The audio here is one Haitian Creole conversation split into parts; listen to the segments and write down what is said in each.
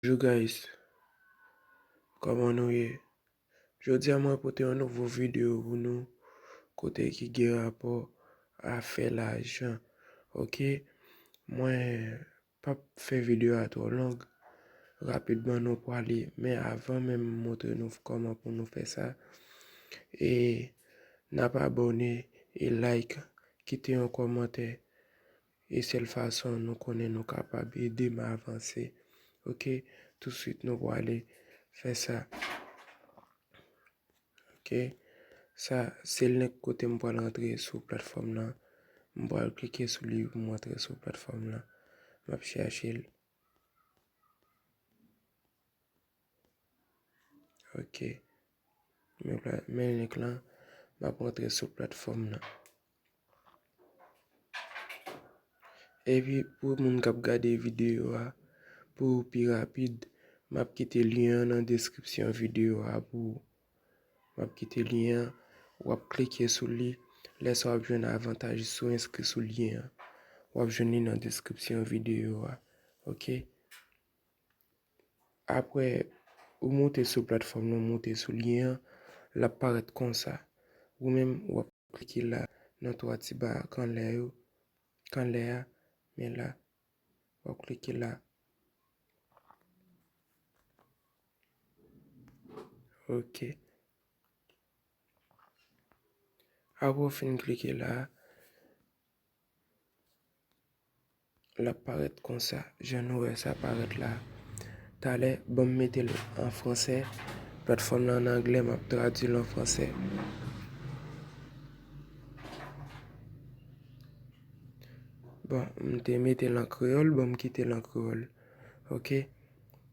Bonjour guys Koman nou ye Jodia mwen pote yon nouvo video pou nou kote ki gen rapò a fè lajan ok mwen pap fè video a twò long rapidman nou pwale men avan men m montre nou koman pou nou fè sa e nap abòne e like kite yon kòmantè E sèl fason nou konnen nou kapab ede m avanse ok touswit nou pwale fè sa ok sa sel link kote m pwal rantre sou platfòm lan m pwal klike sou li pou m rantre sou platfòm lan map chache l. Ok. Men link la. M ap rantre sou platfòm nan. Epi pou moun k ap gade videyo a, pou pi rapid, m ap kite lyen an nan deskripsyon videyo a pou ou. M ap kite lyen an, w ap klike sou li. Lè sa w ap jwenn avantaj si w enskri sou lyen an. W ap jwenn li nan deskripsyon videyo a. Ok. Apre ou moute sou platfòm nan, moute sou lyen an, l ap parèt konsa. Ou menm, w ap klike la nan 3 ti ba ak anlè yo, k anlè a, men la. W ap klike la. Ok. Apre ou fin klike la. Lap parèt konsa jan nou wè sa parèt la talè banm metel an fransè platfòm lan an anglè map tradwil an fransè bon mte metel an kreyòl banm kitel an kreyòl ok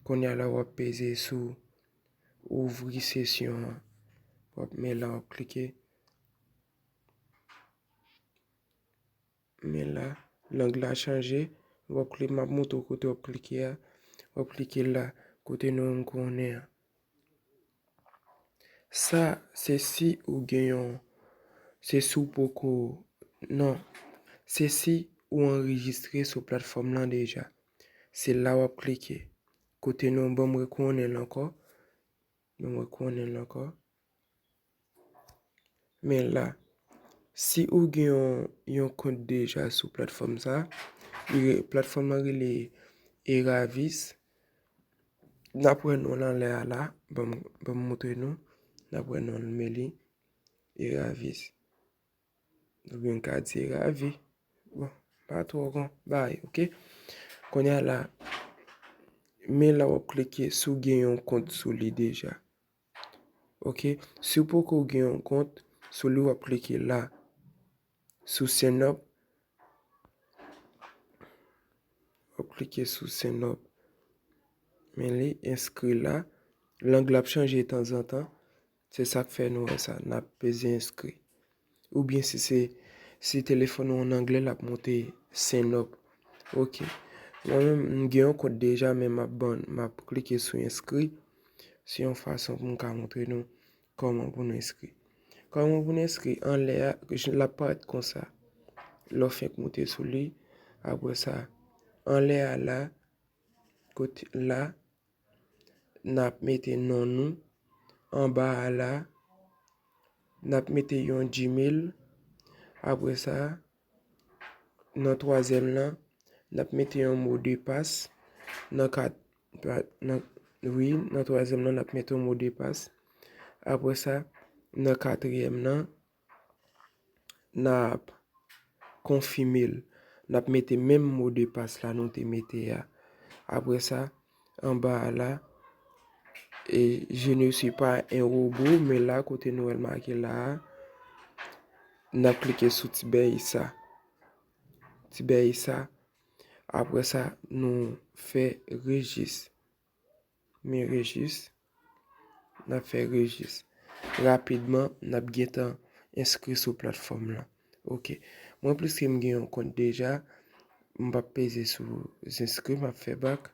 kounya la wap peze sou ouvri sesyon an wap menla wap klike. Men la, lang la chanje, wap klike, map montre w kote wap klike a, wap klike la, kote non an konnen an. Sa, se si ou gen yon, se si w poko, non, se si ou anrejistre sou platfòm lan deja. Se la wap klike, kote non, banm rekonnen l ankò. Nou mwen konnen l ankò. Men la, si ou gen yon kont deja sou platfòm sa, platfòm nan rele Eravis, n ap wè non l anlè a la, banm moutre nou, n ap wè non l men li, Eravis. Nou gen katye ravi. Bon, pa twò gran bay, ok? Kounye a la, men la wap klike si w gen yon kont sou li deja. Ok, si w poko gen yon kont sou li wap klike la, sou sign up. Wap klike sou sign up. Men li enskri la. Lang la ap chanje tanzantan. Se sa k fè nou wè sa, n ap peze enskri. Oubyen si se si telefòn ou an angle l ap monte sign up. Ok. Mwen menm m gen yon kont deja men m ap ban m ap klike sou enskri. Se yon fason pou m ka montre nou kòman pou nou enskri. Kòman pou nou enskri, anlè a l ap parèt konsa. Lè w fenk monte sou li, apre sa anlè a la, kot la, N ap mete non nou anba a la. N ap mete yon Gmail. Apre sa, nan twazyèm lan, n ap mete yon mo de pas. Nan kat, wi, nan twazyèm lan, n ap mete yon mo de pas. Apre sa, nan katriyèm lan. Nap konfime l. Nap mete menm mo de pas la nou te mete a. Apre sa, anba a la, e je ne suis pas un robot, men la kote nou wè l make la a, nap klike sou ti bèy sa. Ti bèy sa. Apre sa, nou fè rejis. Men rejis, n ap fè rejis. Rapidman, n ap gen tan enskri sou platfòm lan. Ok, mwen pliske m gen yon kont deja, m pa p peze sou enskri, m ap fè bak.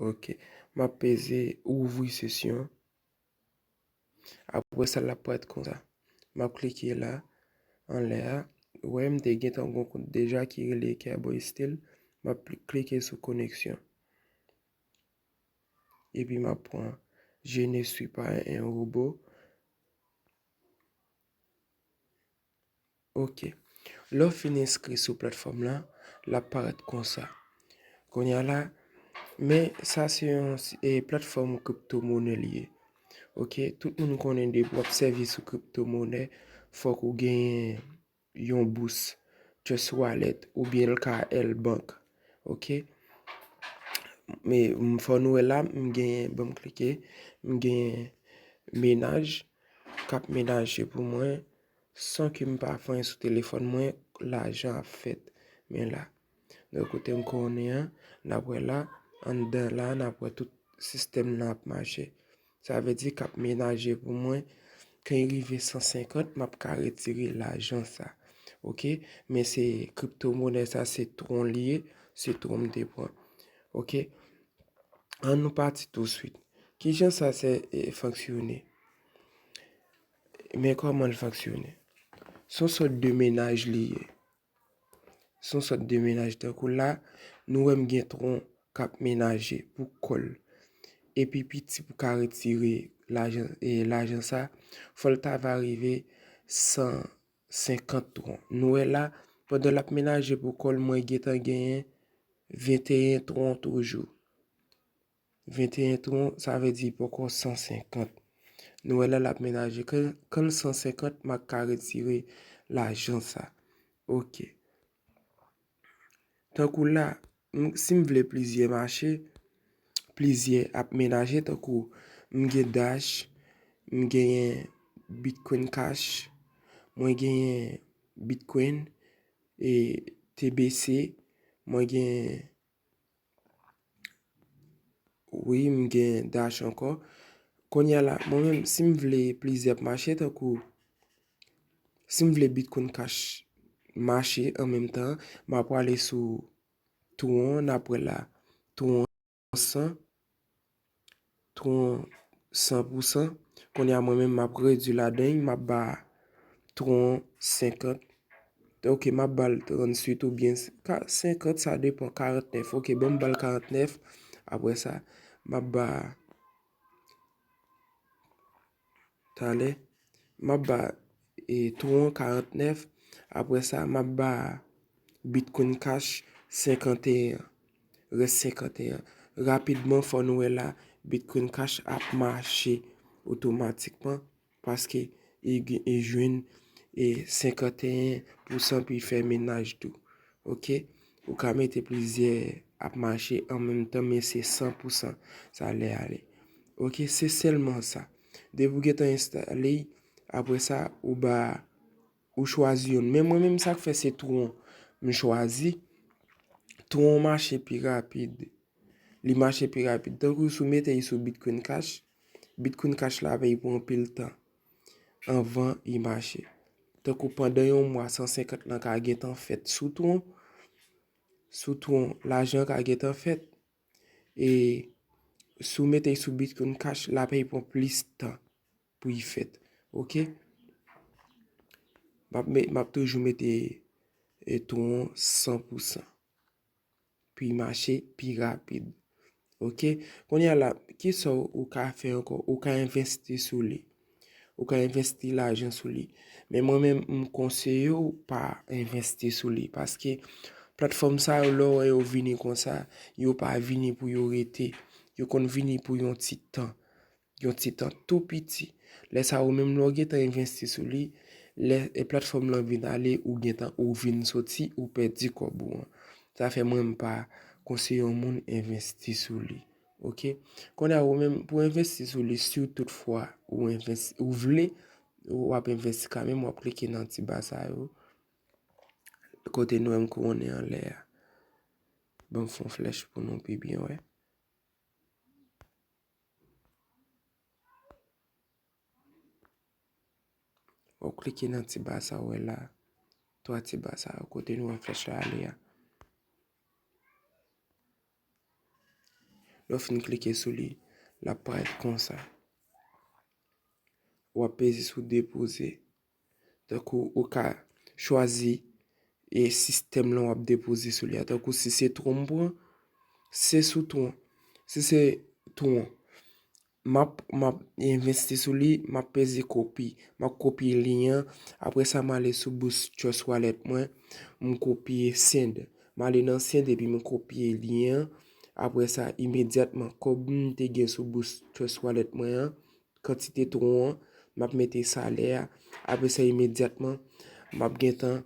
Ok, m ap peze ouvri sesyon. Apre sa lap paret konsa. Map klike la anlè a. Ou wè m te gentan gon kont deja ki rele Kerboy Style. Map klike sou koneksyon. Epi map pran Je ne suis pas un robot. Ok. Lè w fin enskri sou platfòm lan, l ap parèt konsa. Kounye a la, men sa se yon platfòm kripto monè li ye. Ok, tout moun konnen depi w ap sèvi sou kripto monè, fòk ou genyen yon bous, trust wallet oubyen l ka L bank. Ok, men fò nou wè la m genyen, ban m klike, m genyen menaj k ap menaje pou mwen. San ke m pa fanyen sou telefòn mwen, lajan ap fèt. Men la. Donk kote m konnen an, n ap wè la, anndan la a n ap wè tout sistèm nan ap mache. Sa vle di k ap menaje pou mwen, kan y rive 150 m ap ka retire lajan sa. Ok, men se kripto monè sa se twon li ye, se twon m te pran. Ok, an nou pati tousuit. Kijan sa se fonksyone? Men kòman l fonksyone. Se yon sòt de mennaj li ye. Se yon sòt de mennaj. Tankou la, nou wè m gen tron k ap menaje pou kò l. Epi piti pou ka retire lajan sa, fò l ta va rive 150 tron. Nou wè la, pandan l ap menaje pou kò l, mwen gentan genyen 21 tron toujou. 21 tron sa vle di poko 150. Nou wè la lap menaje kan l 150 mak ka retire lajan sa. Ok. Tankou la, si m vle plizyè mache, plizyè ap menaje tankou m gen dash, m genyen bitcoin cash, mwen genyen bitcoin, TBC, mwen genyen Wi m gen dash ankò. Konya la mwen menm si m vle plizyè ap mache tankou si m vle bitcoin cash mache an menm tan m a pwale sou twon n ap wè la twon san. Tron san pou san. Kounye a mwen menm m ap redui ladan l, m ap ba tron senkant. Ok m ap ba l trannswit oubyen senkant sa depan, karantnèf. Ok bon m ba l karantnèf apre sa m ap ba. talè. M ap ba Tron 49, apre sa m ap ba Bitcoin Cash 51, rès 51. Rapidman fò nou wè la Bitcoin Cash ap mache otomatikman paske li jwenn 51 pousan pou li fè menaj tou. Ok ou ka mete plizyè ap mache an menm tan men se san pou san sa lè ale ok se sèlman sa depi ou gentan enstale y apre sa ou ba ou chwazi youn men mwen menm sak fè se twon m chwazi twon mache pi rapid li mache pi rapid tankou sou mete y sou bitcoin cash bitcoin cash la ap vin pou anpil tan. anvan li mache. Tankou pandan yon mwa 150 lan ka gentan fèt sou tron, sou tron lajan ka gentan fèt. E sou mete l sou Bitcoin Cash la pèy pran plis tan pou li fèt. Ok. M ap toujou mete tron 100%. pou y mache pi rapid. Ok, kounye a la, ki sa ou ka fè ankò? Ou ka envesti sou li. Ou ka envesti lajan sou li. Men mwen menm m konseye ou pa envesti sou li. Paske platfòm sa yo lè w wè yo vini konsa, yo pa vini pou yo rete. Yo konn vini pou yon ti tan. Yon ti tan tou piti. Lè sa ou menm lè ou gen tan envesti sou li, lè platfòm lan vin ale ou gen tan ou vin soti ou pèdi kòb ou an. Sa fè mwen m pa konseye yon moun envesti sou li. Ok. Kounye a ou menm pou envesti sou li si tout fwa ou envesti ou vle ou ap envesti ka menm ou ap klike nan ti ba sa yo. Kote nou wè m kouwonnen anlè a. Banm fon flèch pou nou pi byen wè. Ou klike nan ti ba sa ou wè la, 3 ti ba sa yo kote nou wè flèch la ale a. Lè w fin klike sou li, l ap parèt konsa. Ou ap peze sou depoze. Tankou ou ka chwazi e sistèm lan wap depoze sou li a. Tankou si se twon m pran, se sou twon. Si se twon, map envesti sou li, map peze kopi. Map kopye lyen an, apre sa m ale sou bous Trust Wallet mwen, m kopye send. M ale nan send epi m kopye lyen an, apre sa imedyatman kòb m te gen sou bous Trust Wallet mwen an, kantite tron an, m ap mete salè a, apre sa imedyatman m ap gen tan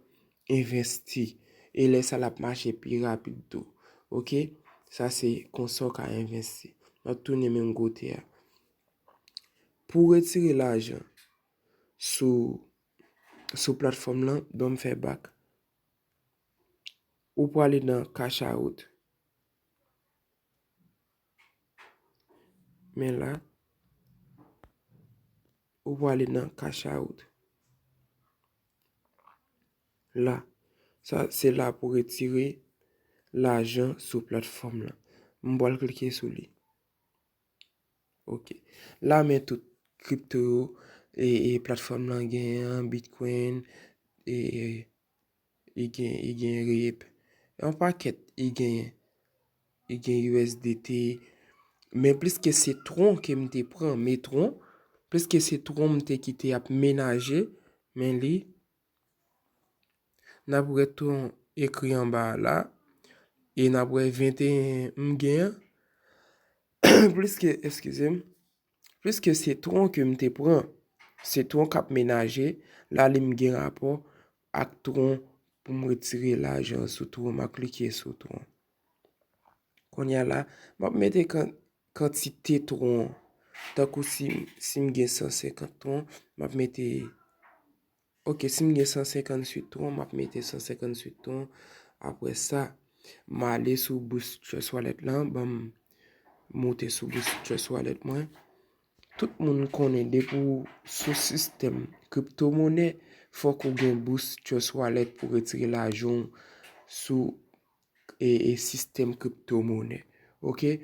envesti. E lè sa l ap mache pi rapid tou. Ok, sa se konsa ou ka envesti. M ap tounen menm kote a. Pou w retire lajan sou platfòm lan, ban m fè bak. Ou prale nan cash out. Men la, ou pou ale nan cash out. La, sa se la pou retire lajan sou platfòm la. M pwal klike sou li. Ok. La men tout kripto yo, e platfòm lan gen an, bitcoin, e... I gen i gen reep. E yon pakèt i genyen. I gen usdt. Men pliske se tron ke m te pran, metron, pliske se tron m te kite ap menaje, men li, n ap wè tron ekri anba a la, e n ap wè 21 m gen an, pliske, eskize m. Piske sitwon ke m te pran, sitwon k ap menaje, la li m gen rapò ak twon pou m retire lajan sou twon, m ap klike sou twon. Kounye a la, m ap mete kantite twon, tankou si m gen 150 twon, m ap mete. Ok sim gen 158 tron map mete 158 tron apre sa male sou boost trust wallet lan banm moute sou boost trust wallet mwen tout moun konnen depi ou sou sistem crypto money fok ou gen boost trust wallet pou retire lajan ou sou e sistem crypto money ok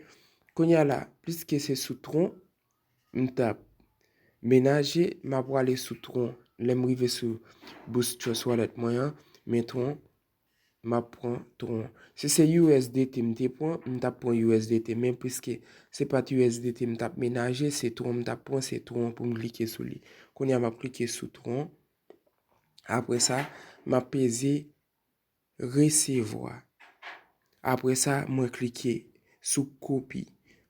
konya la pliske se sou tron. m tap menaje m ap wale sou tron lè m rive sou bous trust wallet mwen an men tron m ap pran tron si se usdt m te pran m tap pran usdt men piske se pat usdt m tap menaje se tron m tap pran se tron pou m klike sou li kounye a m ap klike sou tron apre sa m ap peze Resevwa. Apre sa, mwen klike sou kopi.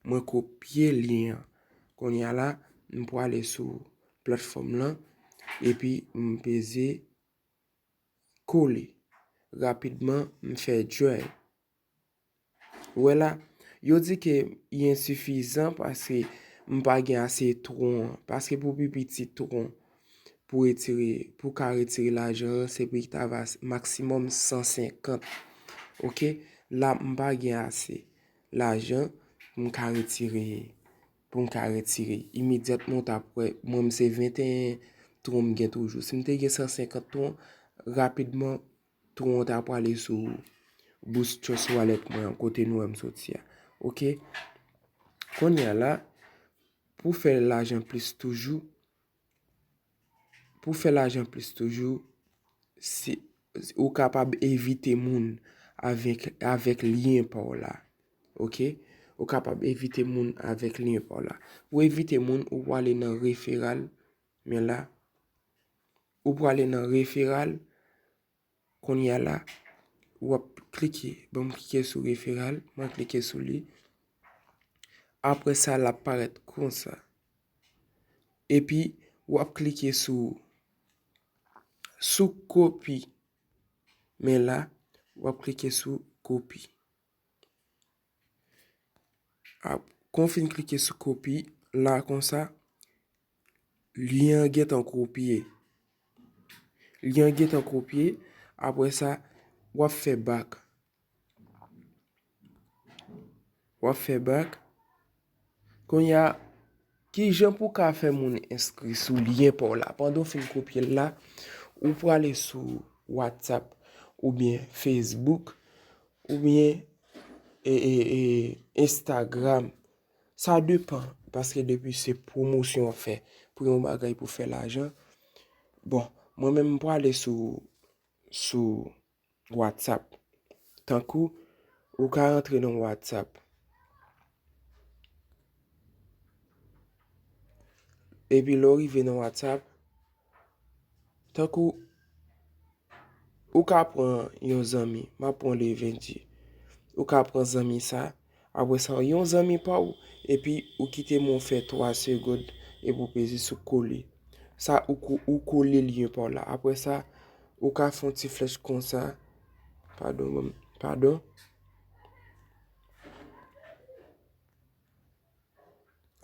Mwen kopye lyen an. Kounye a la, m prale sou platfòm lan, epi m peze kole. Rapidman, m fè join. Ou wè la, yo di ke y ensifizan paske m pa gen ase twon an. Paske pou pi piti twon pou retire, pou ka retire lajan an, se pou y ta va maksimòm 150. Ok, la m pa gen ase lajan pou m ka retire, pou m ka retire. Imedyatman w ta ap wè, mwen m se 21 twon m gen toujou. Si m te gen 150 twon, rapidman. Tron an ta pwale sou Boost Trust Wallet mwen an kote nou wè m soti a. Ok. Kounye a la, pou fè lajan plis toujou, pou fè lajan plis toujou, si ou kapab envite moun avèk, avèk lyen pa w la. Ok. Ou kapab envite moun avèk lyen pa w la. Pou envite moun, ou pwale nan referral, men la. Ou prale nan referal. Kounye a la, ou ap klike. Bon, m klike sou referal. Mwen klike sou li. Apre sa, l ap parèt konsa. Epi, ou ap klike sou sou kopi. Men la, ou ap klike sou kopi. Kon w fin klike sou kopi la konsa, lyen an gentan kopye. Lyen an gentan kopye, apre sa, w ap fè bak. W ap fè bak. Kounye a, ki jan pou ka fè moun enskri sou lyen pa w la? Pandan w fin kopye l la, ou prale sou WhatsApp oubyen Facebook oubyen Instagram. Sa depan, paske depi se pwomosyon w fè pou yon bagay pou fè lajan. Bon, mwen menm m prale sou WhatsApp. Tankou ou ka rantre nan WhatsApp. Epi lè ou rive nan WhatsApp. Tankou ou ka pran yon zanmi. Map pran Levendie. Ou ka pran zanmi sa. Apre sa yon zanmi pa ou epi ou kite men w fè 3 segond epi ou peze sou kole. Sa ou kole lyen pa w la. Apre sa ou ka fè yon ti flèch konsa. Padon banm, padon.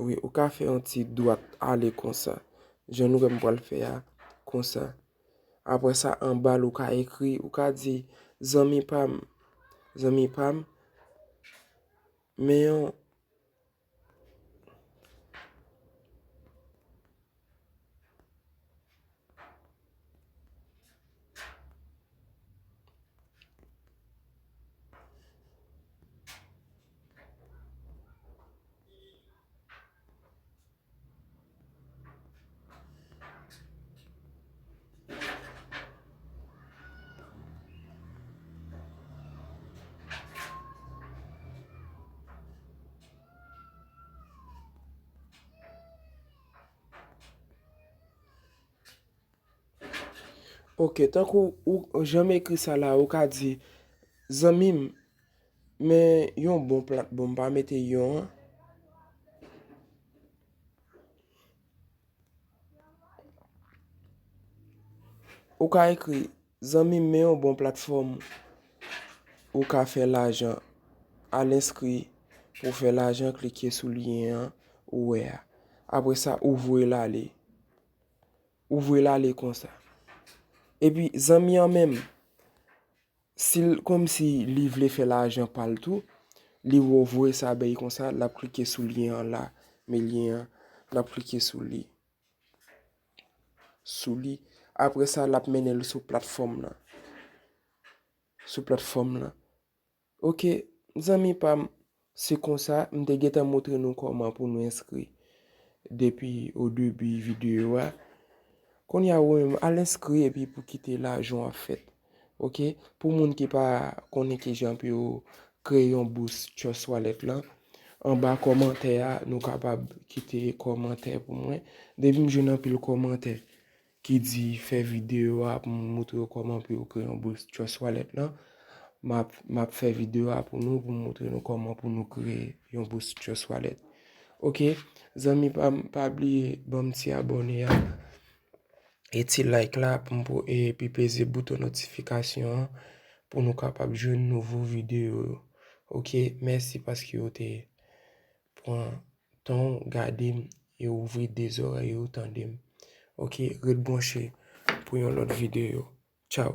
Ou ka fè yon ti dwat ale konsa. Jan nou wè m pral fè a konsa. Apre sa anba l ou ka ekri, ou ka di, zanmi pa m, zanmi pa m, men yon, Ok, tankou ou janm ekri sa la ou ka di, Zanmi m, Men yon bon plat bon pa mete yon an. Ou ka ekri zanmi men yon bon plat fom. Ou ka fe lajan al enskri pou fe lajan klike sou lyen an ou we a. Apre sa ou voye l ale. Ou voye l ale konsa. Epi zanmi an menm. Sil komsi li vle fè lajan pal tou, li wè w voye sa bay konsa, lap klike sou lyen an la, men lyen an, lap klike sou li, sou li, apre sa lap mennen l sou platfòm lan, sou platfòm lan, ok zanmi pam. Se konsa, m te gentan moutre nou kòman pou nou enskri depi o debi videyo a. Kounye a ou menm, al enskri epi pou kite lajan w ap fèt. Ok, pou moun ki pa konnen kijan pou yo kreye yon bous Trust Wallet lan, anba kòmantè a nou kapab kite kòmantè pou mwen. Depi m jwenn anpil kòmantè ki di fè video a pou m moutre yo kòman pou yo kreye yon Brisk Trust Wallet lan m ap fè video a pou nou pou m moutre nou kòman pou nou kreye yon Brisk Trust Wallet ok zanmi pa m pa bliye ban m ti abòne a e ti like la pou m pou epi peze bouton notifikasyon an pou nou kapab jwenn nouvo video yo ok mèsi paske ou te. pran tanw gadem e ouvri 2 zòrèy ou tandem ok ret bwanche pou yon lòt videyo tchaww.